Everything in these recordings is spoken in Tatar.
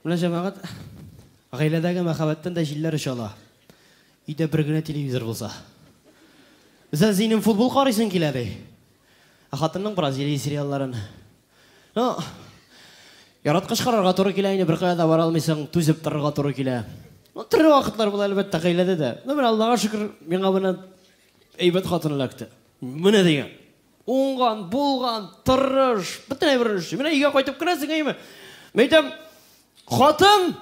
Менә җәмәгать, гаиләдәге мәхәббәттән дә җилләр оча ала. Өйдә бер генә телевизор булса. Үзен зинем футбол карыйсың килә ди. Ә хатынның Бразилия сериалларын. Ну, яраткыч карарга туры килә инде, беркая да бара алмыйсың, түзеп торырга туры килә. Ну, төрле вакытлар була әлбәттә гаиләдә дә. Ну, менә Аллага шөкер, миңа менә әйбәт хатын эләкте. Менә дигән. Уңган, булган, тырыш, бөтен әйберен эшли. Менә өйгә кайтып керәсең, әйме? Мин әйтәм, хатын,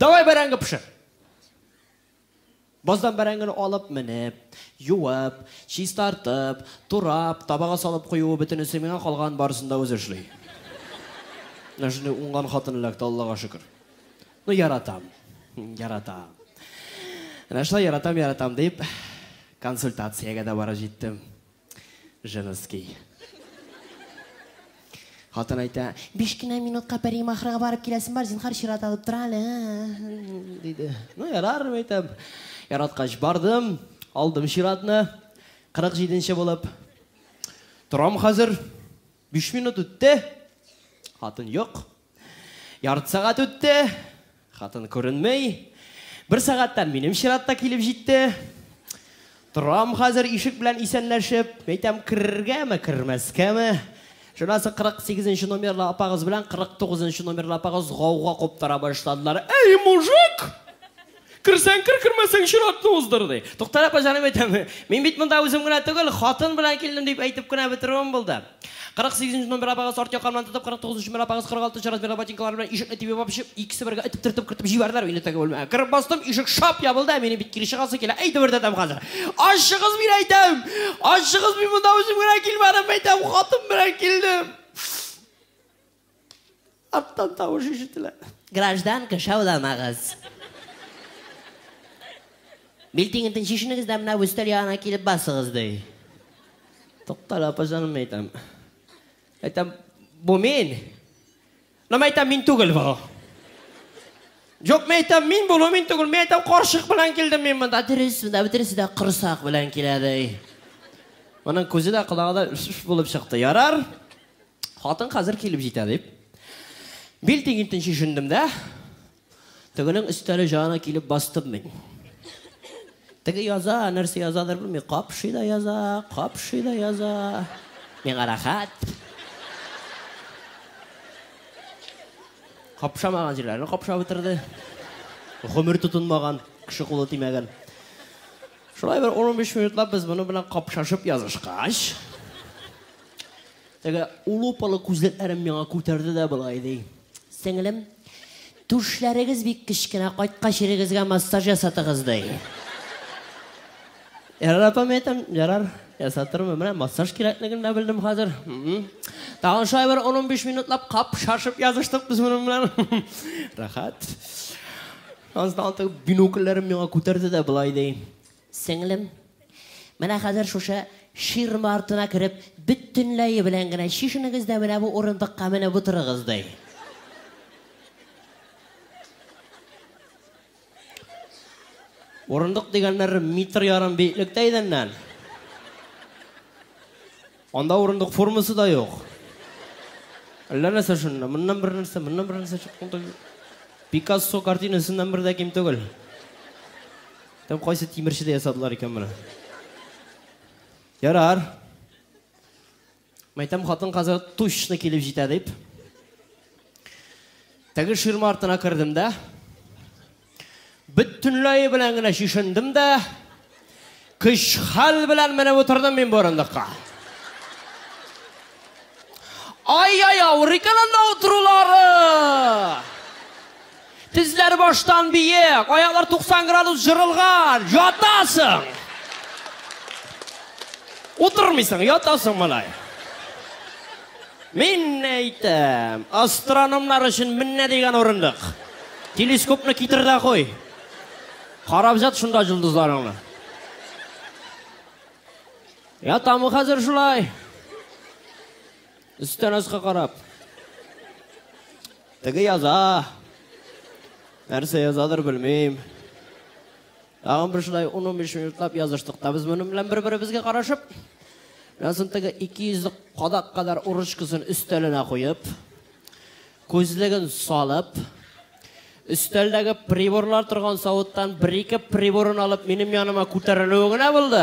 давай бәрәңге пешер. Баздан бәрәңгене алып менеп, юып, чистартып, турап, табага салып куюы бөтенесе миңа калган барысын да үзе эшли. Менә шундый уңган хатын эләкте, Аллага шөкер. Ну, яратам. Яратам. Менә шулай яратам, яратам дип, консультациягә дә бара җиттем. Женский. Хатын әйтә, биш кенә минутка пәри махрага барып киләсем бар, зинхар чират алып тора әле. Диде. Ну, ярар, әйтәм. Яраткач бардым, алдым чиратны. 47 нче булып. Торам хәзер. Биш минут үтте, хатын юк. Ярты сәгать үтте, хатын күренмей. Бер сәгатьтә минем чират та килеп җитте. Торам хәзер ишек белән исәнләшеп, әйтәм, керергәме, кермәскәме? Шунасы 48 номерлы апагыз белән 49 номерлы апагыз гауга куптара башладылар. Эй, мужик! Керсәң кер, кермәсәң чиратны уздыр, ди. Туктар апа җаным әйтәм, мин бит монда үзем генә түгел, хатын белән килдем дип әйтеп кенә бетерүем булды. 48 нче номер апагыз арт якамнан тотып, 49 нчы номер апагыз 46 нчы размерлы ботинкалары белән ишекне тибеп алып чыгып, икесе бергә этеп төртеп кертеп җибәрделәр мине теге бүлмәгә. Кереп бастым, ишек шап ябылды, ә минем бит кире чыгасы килә. Әй дөбердәтәм хәзер. Ачыгыз, мин әйтәм! Ачыгыз, мин монда үзем генә килмәдем, әйтәм, хатын белән килдем. Арттан тавыш ишетелә. Гражданка, шауламагыз. Билтиңентен чишенегез дә менә өстәл ягына килеп басыгыз, ди. Туктале, апа җаным, әйтәм. Әйтәм, бу мин. Нәм әйтәм, мин түгел бу. Юк, мин әйтәм, мин булу мин түгел. Мин әйтәм, каршык белән килдем мин монда. Дөрес, монда бөтенесе дә корсак белән килә, ди. Моның күзе дә, колагы да булып чыкты. Ярар. Хатын хәзер килеп җитә, дип, бил тигентен чишендем дә, тегенең өстәле җанына килеп бастым мин. Теге яза, нәрсә язадыр белми, капшый да яза, капшый да яза. Миңа рәхәт. Капшамаган җирләрне капшап бетерде. Гомер тотынмаган, кеше кулы тимәгән. Шулай бер 15 минутлап без моны белән капшашып язышкач, Теге лупалы күзлекләрен миңа күтәрде дә болай ди. Сеңлем, түшләрегез бик кечкенә, кайткач ирегезгә массаж ясатыгыз, ди. Ярар, апам, әйтәм, ярар, ясатырмын. Менә массаж кирәклеген дә белдем хәзер. Тагын шулай бер 10-15 минутлап кап шашып языштык без моның белән. Рәхәт. Аннан соң бинокльләрен миңа күтәрде дә болай ди. Сеңлем, менә хәзер шушы ширма артына кереп, бөтенләе белән генә чишенегез дә менә бу урындыкка менеп утырыгыз, ди. Урындык дигәннәр метр ярым биеклектә идәннән. Анда урындык формасы да юк. Әллә нәрсә шунда. Моннан бер нәрсә, моннан бер нәрсә чыккан да юк. Пикассо картинасыннан бер дә ким түгел. Там кайсы тимерчедә ясадылар икән моны. Ярар. Мәйтәм хатын хәзер точно килеп җитә дип. Теге ширма артына кердем дә. Бөтенләе белән генә чишендем дә, көч-хәл белән менеп утырдым мин бу урындыкка. Ай-яй, авыр икән анда утырулары! Тезләр баштан биек, аяклар 90 градус жырылган, ятасың! Утырмыйсың, ятасың малай. Мин әйтәм, астрономнар өчен менә дигән урындык. Телескопны китер дә куй. Карап җат шунда җылдызларыңны. Я тамы хәзер шулай. Өстән аска карап. Теге яза. Нәрсә язадыр белмим. Тагын бер шулай 10-15 минутлап языштык та без моның белән бер-беребезгә карашып. Язын теге 200 кадак кадәр урычкасын өстәленә куеп, күзлеген салып, өстәлдәге приборлар торган савыттан бер-ике приборын алып минем яныма күтәрелүе генә булды.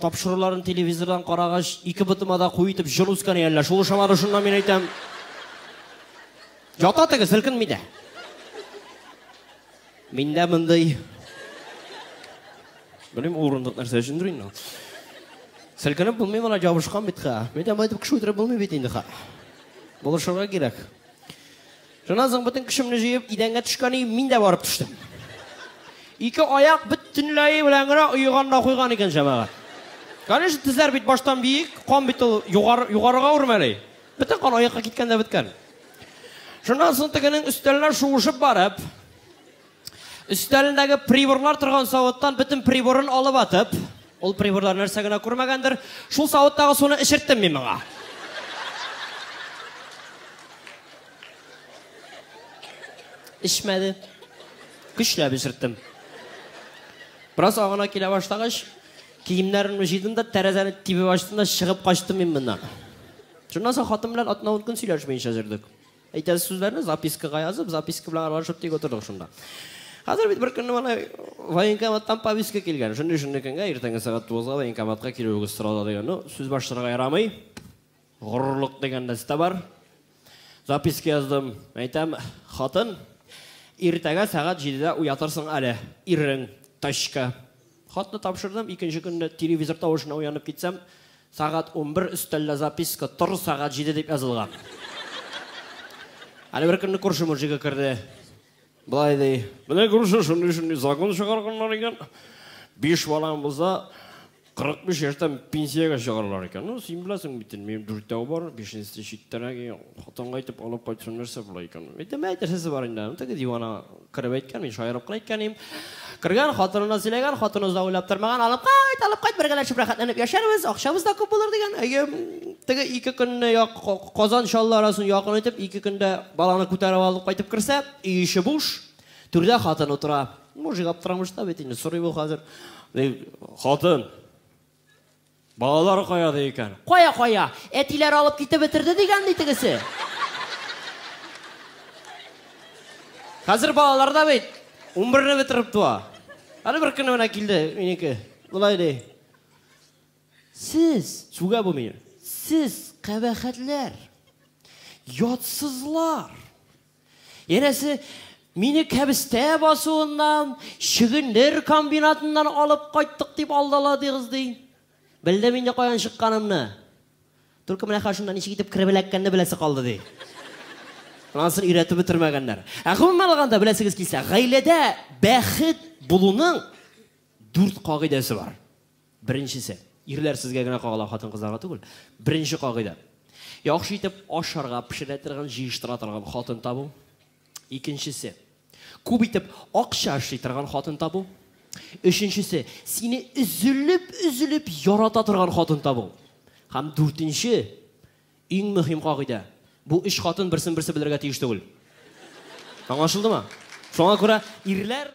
Тапшыруларын телевизордан карагач, ике ботыма да куе итеп җон үскәне әллә шул ошамады, шуннан мин әйтәм. Ята теге, селкенми дә. Миндә мондый Белмим, урындык нәрсә өчендер инде. Селкенеп булмый моны ябышкан бит ха. Мин дә әйтеп кеше үтереп булмый бит инде ха. Булышырга кирәк. Шуннан соң бөтен көчемне җыеп идәнгә төшкән идем, мин дә барып төштем. Ике аяк бөтенләй белән генә оеган да куйган икән җәмәгать. Конечно, тезләр бит баштан биек, кан бит ул югар, югарыга үрмәли. Бөтен кан аякка киткән дә беткән. Шуннан соң тегенең өстәлләр шуышып барып, Өстәлендәге приборлар торган савыттан бөтен приборын алып атып, ул приборлар нәрсә генә күрмәгәндер, шул савыттагы суны эчерттем мин моңа. Эчмәде. Көчләп эчерттем. Бераз агына килә башлагач, киемнәрен җыйдым да тәрәзәне тибеп ачтым да чыгып качтым мин моннан. Шуннан соң хатын белән атна-ун көн сөйләшмәенчә җөрдек. Әйтәсе сүзләрне запискага язып, записка белән аралашып тик утырдык шунда. Хәзер бит бер көнне менә военкоматтан повестка килгән. Шундый шундый көнгә иртәнге сәгать 9-га военкоматка килүегез сорала дигән. Ну, сүз башларга ярамый. Горурлык дигән нәрсә бар. Записка яздым. Әйтәм, хатын, иртәгә сәгать 7-дә уятырсың әле. Ирең, тачка. Хатны тапшырдым, икенче көнне телевизор тавышына уянып китсәм, сәгать унбер, өстәлдә записка, тор, сәгать җиде дип язылган. Әле бер көнне күрше мужигы керде. Болай ди. Менә күрше шундый-шундый закон чыгарганнар икән. Биш балаң булса, 45 яшьтән пенсиягә чыгаралар икән. Ну, син беләсең бит, минем дүртәү бар, бишенчесе читтәрәк, хатынга әйтеп алып кайтсын, нәрсә була икән. Әйтәм, әйтерсесе бар инде, теге дивана Кереп әйткән, мин шаярып кына әйткән идем. Кергән хатынына сөйләгән, хатыны да уйлап тормаган, алып кайт, алып кайт, бергәләшеп рәхәтләнеп яшәрбез, акчабыз да күп булыр дигән. Әйе, теге ике көнне як Казан Чаллы арасын якын итеп, ике көндә баланы күтәреп алып кайтып керсә, өй иши буш, түрдә хатын утыра. Мужик аптырамышта бит инде, сорый бу хәзер. Хатын, Балалар кая ди икән? Кая, кая? Әтиләр алып китеп бетерде дигән ди тегесе. Хәзер балалар да бит 11-не бетереп туа. Әле бер көнне менә килде минеке. Болай ди. Сез, сүгә бу мине. Сез кабахәтләр. Ятсызлар. Янәсе, мине кәбестә басуыннан, чөгендер комбинатыннан алып кайттык дип алдаладыгыз, ди. Белдем инде каян чыкканымны. Только менә хәшунда ничек итеп кереп эләккәнне беләсе калды, ди. Анысын өйрәтеп бетермәгәннәр. Ә гомумән алганда, беләсегез килсә, гаиләдә бәхет булуның дүрт кагыйдәсе бар. Беренчесе, ирләр сезгә генә кагыла, хатын-кызларга түгел. Беренче кагыйдә. Яхшы итеп ашарга, пешерә торган, җыештыра торган хатын табу. Икенчесе, күп итеп акча эшли торган хатын табу. Өченчесе, сине өзелеп-өзелеп ярата торган хатын табу. Һәм дүртенче, иң мөһим кагыйдә. Бу өч хатын берсен-берсе белергә тиеш түгел. Аңлашылдымы? Шуңа күрә ирләр